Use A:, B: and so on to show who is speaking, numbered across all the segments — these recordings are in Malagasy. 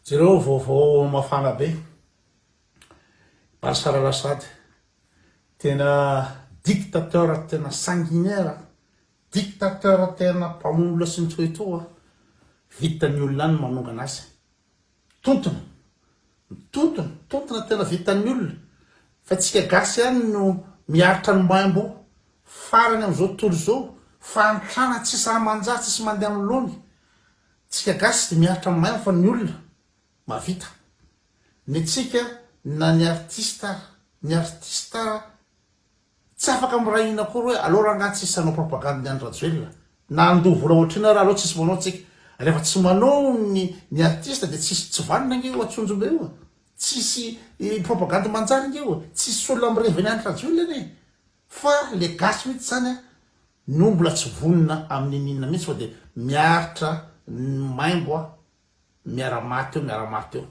A: Jereo vaovao mafana be. Bashar Al Assad, tena dictateur tena sanguinaire, dictateur tena mpamono olona sy mitoetoa, vitan'ny olona any ny manongana azy. Tontona, tontona, tontona tena vitan'ny olona, fa tsika gasy ihany no miaritra ny maimbo farany amin'izao tontolo izao, fahantrana tsy sahy manjary, tsisy mandeha amin'ny laony. Tsika gasy de miaritra maimbo fa ny olona mavita ny tsika na ny artiste ara ny artiste ara tsy afaka miray hina akory hoe aleo rangah tsisy hanao propagande ny Andry Rajoelina na handoa vola ohatrina ara aleo tsisy manao tsika refa tsy manao ny ny artiste de tsisy tsy vanona nge io atsonjombe io tsisy propagande manjary nge io tsisy olona mirevy ny Andry Rajoelina anie. Fa le gasy mihitsy zany a no mbola tsy vonona amin'ny n'inona mihitsy fa de miaritra ny maimbo a miara maty eo miara maty eo.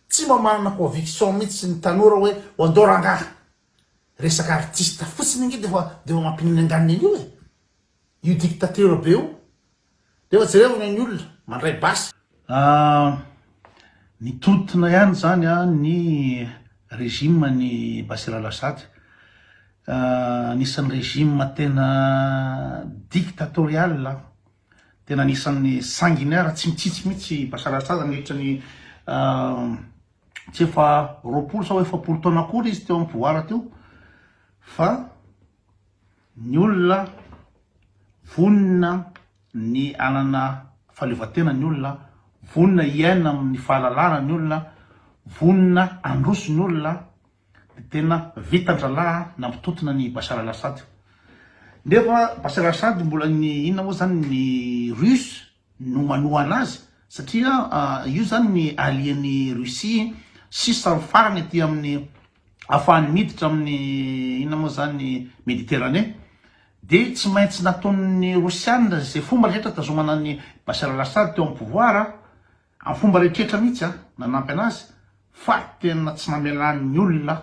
A: Tsy mba manana conviction mihitsy ny tanora hoe ho andao rangaha. Resaka artiste fotsiny ange defa defa mampininganina an'io e. Io dictateur be io. Nefa jereo ny olona mandray basy. Ah mitontona ihany zany an ny regime an'i Bashir Al Assad. Anisan'ny regime tena dictatorial an. Tena anisan'ny sanguinaire tsy mitsitsy mihitsy i Bashar Al Assad nandritra ny tsy efa roapolo sao efapolo taona akory izy teo am pouvoir teo fa. Ny olona vonona ny hanana fahaleovantena ny olona, vonona hiaina amin'ny fahalalahana ny olona, vonona handroso ny olona dia tena vitan-drahalahy nampitontona an'i Bashar al-Assad. Nefa Bashar al-Assad mbola ny inona moa izany ny Russe no manohana azy satria io zany ny allier ny Russie sisa ny farany aty aminy afahany miditra aminy inona moa zany Mediterane de tsy maintsy nataon'ny Rosiana ze fomba rehetra hitazomana an'i Bashar al-Assad teo am pouvoir am fomba rehetra rehetra mihitsy a nanampy anazy fa tena tsy namelany olona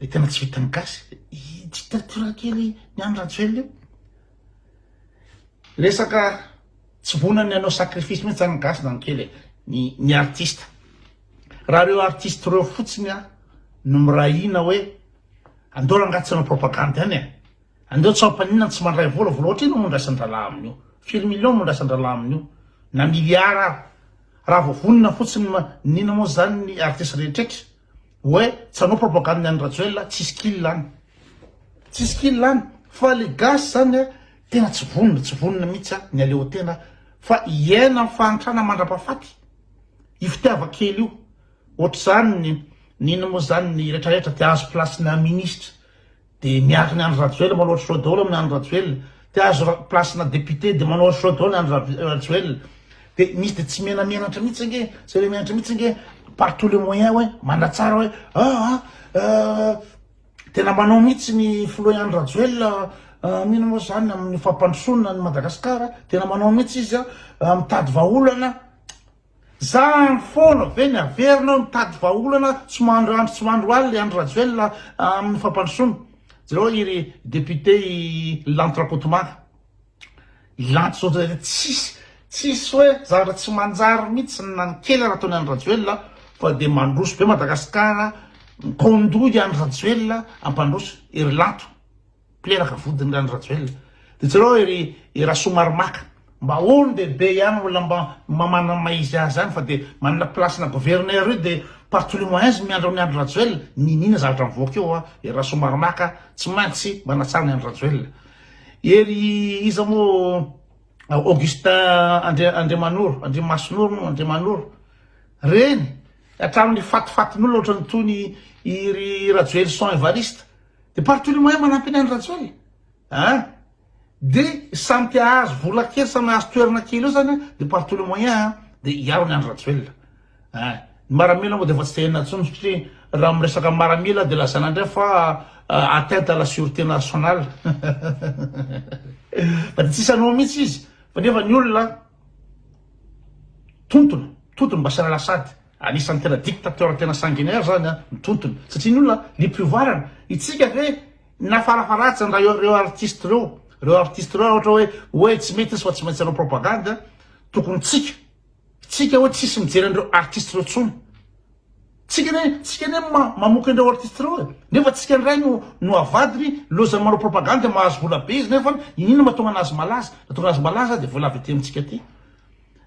A: Ilay tena tsy vitan'ny gasy, io dictature kely ny an'i Rajoelina io. Resaka tsy vonany hanao sacrifice mihitsy zany ny gasy zany kely e, ny ny artiste. Raha reo artiste reo fotsiny a no miray hina hoe andao rangaha tsy hanao propagande ihany e, andao tsy hampaninona ny tsy mandray vola, vola ohatrino no andraisan-drahalahy amin'io, firy millions no andraisan-drahalahy amin'io, na milliards ary, raha vao vonona fotsiny ma, n'inona moa zany ny artiste rehetretra. Oe tsy hanao propagande ny any Rajoelina tsisy kil any. Tsisy kil any fa le gasy zany a tena tsy vonona tsy vonona mitsy a ny aleo tena fa hiaina am fahantrana mandrapafaty io fitiava kely io otrzany nino mo zany ny retraretra de azo place na ministra Dia miaky ny Andry Rajoelina manao show daholo amin'ny Andry Rajoelina. Te azo ra- place-na député dia manao show daholo ny Andry Ra- Rajoelina. Dia misy dia tsy menamenatra mihitsy ange, tsy menamenatra mihitsy ange par tous les moyens hoe manatsara hoe ah ah euh, tena manao mihitsy ny filoha Andry Rajoelina ah, mino moa izany amin'ny fampandrosoana an'i Madagasikara, tena manao mihitsy izy ah, ah, mitady vahaolana. Zahany foana ve ny haverina eo mitady vahaolana tsy mandro andro tsy mandro alina i Andry Rajoelina amin'ny fampandrosoana? Jereo iry député i Lanto Rakotomanga. I Lanto zao dia tsisy tsisy hoe zavatra tsy manjary mihitsy na ny kely ary ataon'i Andry Rajoelina fa dia mandroso be Madagasikara, mikaondoha i Andry Rajoelina hampandroso i ry Lanto. mpilelaka vodiny rany Rajoelina de jereo ery i Rasoamaromaka mba olo de be ihany olona mba mamana maizy azy any fa de manana place na gouverneur io de par tous les moyens miandry amin'ny Andry Rajoelina niniana zavatra mivoaka eo a ery Rasoamaromaka tsy maintsy manatsara ny Andry Rajoelina ery iza moa Augustin Andri Andriamanoro Andriamasonoro no Andriamanoro reny hatramin'ny fatifatin'olona ohatran'ny tony iry Rajoelison Evariste De partout le moyen manampy an'i Andry Rajoelina an! de samy te hahazo vola kely samy hahazo toerana kely eo zany an! de partout le moyen an! de hiaro an'i Andry Rajoelina an! ny maramila moa de efa tsy te henona intsony satria raha miresaka maramila de lazaina indray fa atteinte à la surete nationale fa de tsisy hanao mihitsy izy fa nefa ny olona tontona tontony mba asiana lasady Anisan'ny tena dictateur tena sanguinaire zany ny tontony satria ny olona niprivoirana, itsika ve nafarafaratsiny raha ireo artiste ireo, ireo artiste ireo raha ohatra hoe hoe tsy mety izy fa tsy maintsy hanao propagande tokony tsika tsika hoe tsisy mijery an'ireo artiste ireo tsony tsika ne tsika ne mamoka an'ireo artiste ireo e nefa tsika indray no no avadiny lozany manao propagande mahazo vola be izy nefa inona mahatonga anazy malaza mahatonga azy malaza dia voalavo ety amintsika aty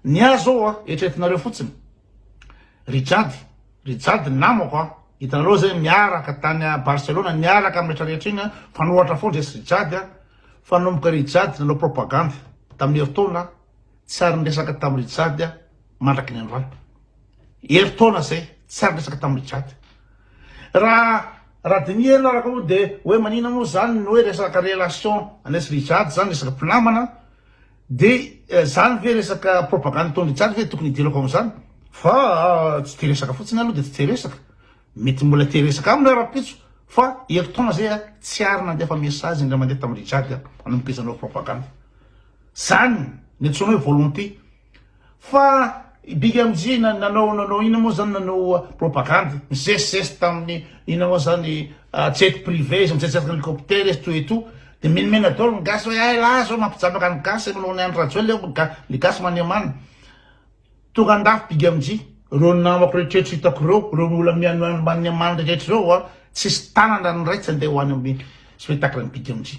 A: Ny ahy zao a, eritreretinareo fotsiny, ry Jady, ry Jady namako a, hitanareo zay niaraka tany a Barcelona, niaraka amin'ny rehetra rehetra iny a, mpanohatra foana resy ry Jady a, fanomboka ry Jady nanao propagandy tamin'ny herintaona a, tsy ary niresaka tamin'i ry Jady a mandraky ny androany. Herintaona zay, tsy ary niresaka tamin'i ry Jady. Raha raha diniho ianao araka io dia hoe manina moa zany ny hoe resaka relation an'iesy ry Jady zany, resaka mpinamana, Dia izany ve resaka propagande ataon'i Richard ve tokony hidirako amin'izany? Fa tsy te resaka fotsiny aloha dia tsy te resaka. Mety mbola te resaka aminy aho rahampitso fa ery taona izay a, tsy ary nandefa message indray mandeha tamin'i Richard aho nanomboka izy nanao propagande. Izany no antsoina hoe volonté. Fa i big MJ nanao nanao inona moa zany nanao propagande misesisesy tamin'ny inona moa zany jet privé izy mijetsiaka hélicoptère izy tout et tout de menomena daholo ny gasy hoe ay lahy zao mampijambaka ny gasy manao ny Andry Rajoelina ny gasy maniamana tonga andafy big MJ reo namako rehetra hitako reo reo olona mihanomaniamana rehetra reo a tsisy tanana ny ray tsy andeha ho any amin'ny spectacle ny big MJ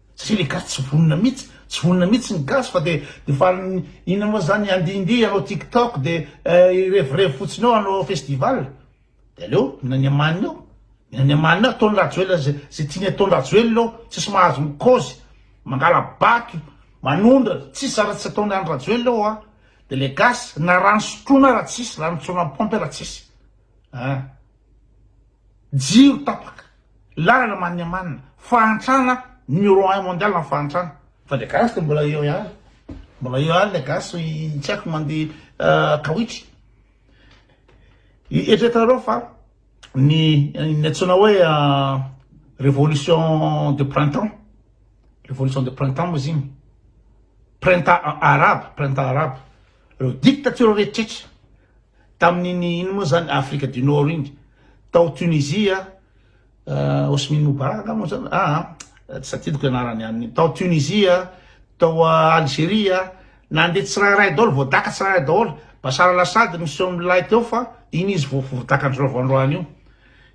A: Satria le gasy tsy vonona mitsy, tsy vonona mitsy ny gasy fa de de fa inona moa zany handihindihy hanao tiktok de hirevirevy fotsiny eo hanao festival de aleo mila ny amaniny eo, mila ny amaniny eo ataony rajoelina ze ze tiany ataony rajoelina eo tsisy mahazo ny kaozy mangala bato manondra tsisy zara tsy ataony any rajoelina eo a de le gasy na rano sotroina ara tsisy rano tsorina am paompy ara tsisy a. Jiro tapaka, lalana maniamanina, fahantrana numéro un mondial ny fahantrana. Fa le gasy de mbola eo ihany, mbola eo ihany le gasy tsy haiko mandeha kawitry. Eritreretanareo fa ny ny antsoina hoe révolution de printemps, révolution de printemps moa izy igny, printemps arabe, printemps arabe, reo dictatures rehetra. Tamin'iny ino moa zany Afrika du Nord iny tao Tunisie ah Hosmine Moubarak nga moa zany ah tsy tadidiko anarany any iny tao Tunisie tao Algeria nandeha tsirairay daholo voadaka tsirairay daholo Bashar Al Assad miseho milay teo fa iny izy vao voadaka andro rava androany io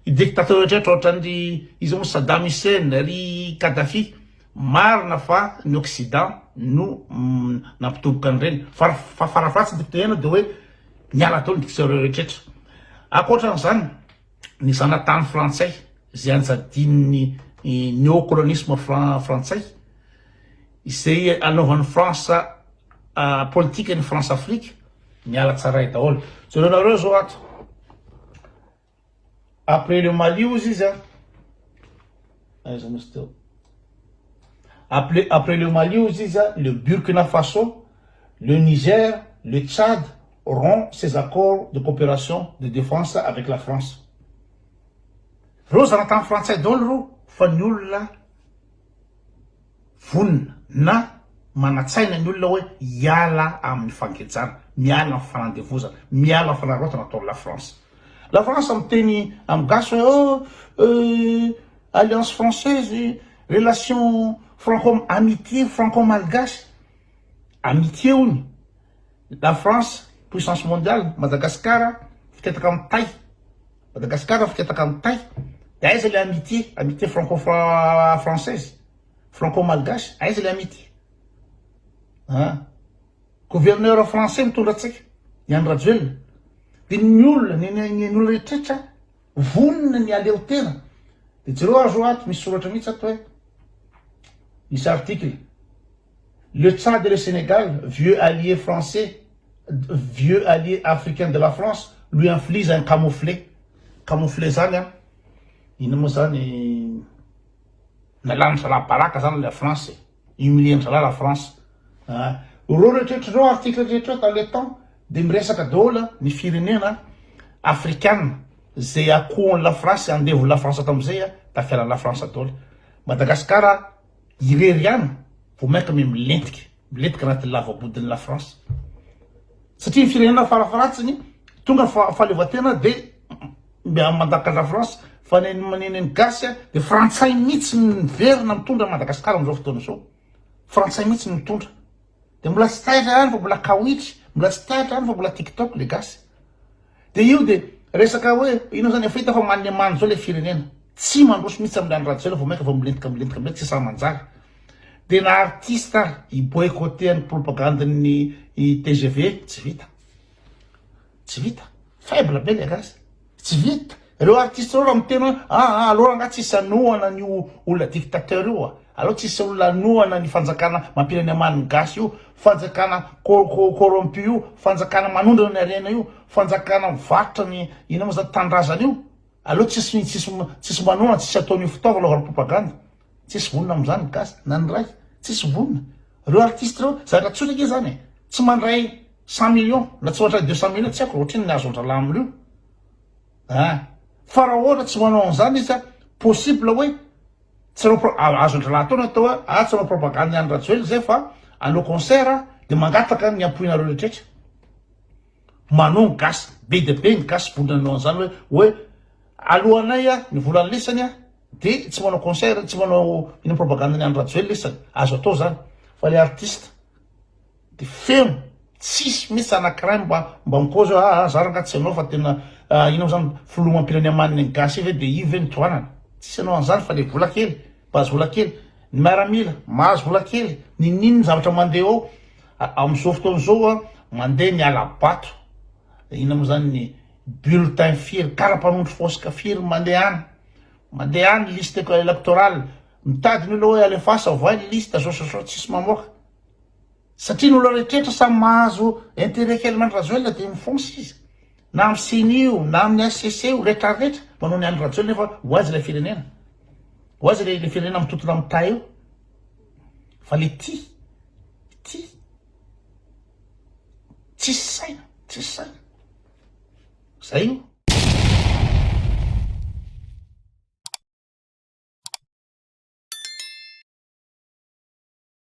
A: i dictateur rehetra ohatran'ny ry iza moa Saddam Hussein ry Kadhafi Marina fa ny occident no nampitomboka an'ireny fa fa fara fahatsiny tokony teneno de hoe miala tao ny dictionary rehetra. Ankoatran'izany ny zanatany frantsay izay anjadin'ny neocolonisme fran frantsay izay anaovan'ny France politika ny France Afrique miala tsaray daholo. Jerenareo zao ato. Après le Mali ozy izy an. Aiza moa izy teo. Après, après le Mali ozy izy an, le Burkina Faso, le Niger, le Tchad rompt ses accords de coopération de défense avec la France. Reo zanatany frantsay daholo reo fa ny olona. vonona na manatsaina ny olona hoe hiala amin'ny fangejana, miala amin'ny fanandevozana, miala amin'ny fanararaotana ataon'i La France. La France miteny amin'ny gasy hoe oh, euh, alliance française, relation franco, amitié franco-malgache, amitié hono, La France, puissance mondiale, Madagasikara, fitetaka amin'ny tay. Madagascar afiketaka am tay de aiza le amitie amitie franco française franco malgache aiza le amitie ah gouverneur français mitondra antsika i Andry Rajoelina de ny olona ny ny olona rehetrretra vonona ny aleo tena de jereo azo ato misy soratra mihitsy ato hoe misy article Le Tchad et le Sénégal, vieux alliés français, vieux alliés africains de la France, lui inflige un camouflet, camouflet zany an, ino moa zany, nalanin-dry zalahy baraka zany la France e, humilier-n'ny zalahy la France an, reo rehetraretra reo articles rehetra reo dans le temps de miresaka daholo ny firenena africaines ze akohon'i la France, andevon'i la France tamin'izay an, tafialan'i la France daholo, Madagascar. irery ihany vao mainka me milentika milentika anatin'ny lavabodin'i la France satria ny firenena farafaratsiny tonga fa fahaleovantena dia mba mandaka la France fa ny maneneny gasy a dia frantsay mihitsy miverina mitondra Madagasikara amin'izao fotoana izao frantsay mihitsy mitondra de mbola tsy taitra ihany fa mbola kawitry, mbola tsy taitra ihany fa mbola tiktok le gasy, de io de resaka hoe ino zany efa hita fa manne many zao le firenena, tsy mandroso mihitsy aminy andry rajoelina vao mainka vao milentika milentika milentika tsy sahy manjary, de na artiste ary hi boycotter ny propagandin'ny tgv tsy vita, tsy vita, faible be le gasy. Tsy vita. Reo artiste reo raha miteny hoe aa alors angaha tsisy anohana ny olona dictateur io a? Aleo tsisy olona anohana ny fanjakana mampireny amaniny gasy io, fanjakana corrompu io, fanjakana manondrana ny harena io, fanjakana mivarotra ny inona moa zany tanindrazana io? Aleo tsisy tsisy tsisy manohana tsisy ataon'io fitaovana anaovana propagande. Tsisy vonona amzany ny gasy na ny ray tsisy vonona. Reo artiste reo zaka tsotra ange zany e. Tsy mandray cent millions na tsy mandray deux cent millions tsy aiko ra otrino ny azondralah amreo a. Fa ra ohatra tsy manao anzany izy a possible oe tsy anao pro azondralah atao ny atao oe a tsy anao propagande ny any rajoelina zay fa anao concert de mangataka ny ampoinareo rehetra rehetra. Manon ny gasy, be dia be ny gasy vonona hanao an'izany hoe hoe aloanay a ny volany lesany a de tsy manao concert, tsy manao ino propagande ny Andry Rajoelina lesany, azo atao zany fa le artiste de feno tsisy mihitsy anankiray mba mba mi-pose hoe aa za rangah tsy hanao fa tena ino mo zany filoham-pirenena manina ny gasy ve de io ve no tohanana, tsisy hanao an'izany fa le vola kely, mpahazo vola kely, ny miaramila mahazo vola kely, ninoninona zavatra mandeha ao. Amin'izao fotoana izao, mandeha ny hala-bato, inona moa izany ny bulletin firy, kara-panondro fosika firy mandeha any, mandeha any liste électorale, mitady ny olona hoe alefaso avoay ny liste sao sao sao tsisy mamoaka, satria ny olona rehetra samy mahazo intérêt kely amin'Andry Rajoelina dia mifonsa izy, na amin'ny ceni io, na amin'ny HCC io, rehetra rehetra manao ny an'i Rajoelina fa ho aiza ilay firenena, ho aiza ilay firenena mitontona amin'ny tay io. fa le ty ty tsisy saina tsisy saina zay o